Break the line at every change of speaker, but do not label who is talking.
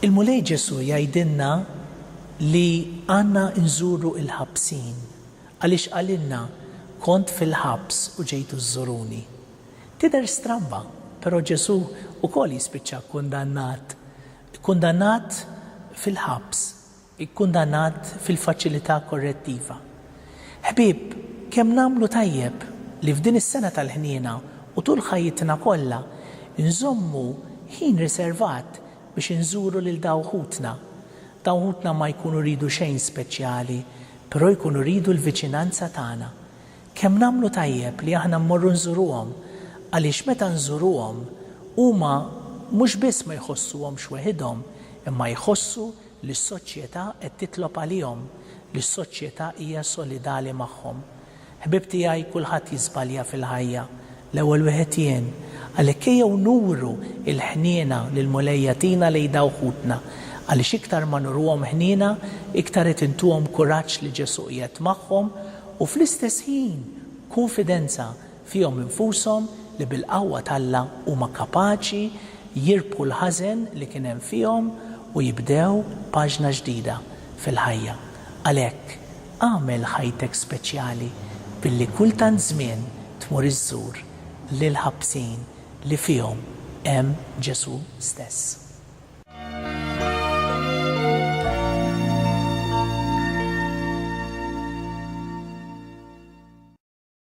Il-Mulej Ġesù jgħidilna li għandna nżuru l-ħabsin, għaliex qalilna, Kont fil-ħabs u ġejtu żżuruni. Tidher stramba, però Ġesù wkoll jispiċċa kkundannat, ikkundannat fil-ħabs, ikkundannat fil-faċilità korrettiva. Ħbieb, kemm nagħmlu tajjeb li f'din is-sena tal-ħniena u tul ħajjitna kollha nżommu ħin riservat biex inżuru lil daw ħutna. Dawn ħutna ma jkunu jridu xejn speċjali, però jkunu jridu l-viċinanza tagħna. Kemm nagħmlu tajjeb li aħna mmorru nżuruhom għaliex meta nżuruhom huma mhux biss ma jħossuhomx weħidhom imma jħossu li s-soċjetà qed titlob għalihom, li s-soċjetà hija solidali magħhom. Ħbieb tiegħi kulħadd jiżbalja fil-ħajja, L-ewwel wieħed jien. Għalhekk ejjew nuru l-ħniena li l-Mulej jagħtina lejn dawk ħutna, għaliex iktar ma nuruhom ħniena, iktar qed intuhom kuraġġ li Ġesù qiegħed magħhom, u fl-istess ħin kunfidenza fihom infushom li bil-qawwa t'Alla huma kapaċi jirbħu l-ħażen li kien hemm fihom u jibdew paġna ġdida fil-ħajja. Għalhekk. Agħmel ħajtek speċjali billi kull tant żmien tmur iżżur lill-ħabsin li fihom hemm Ġesù stess.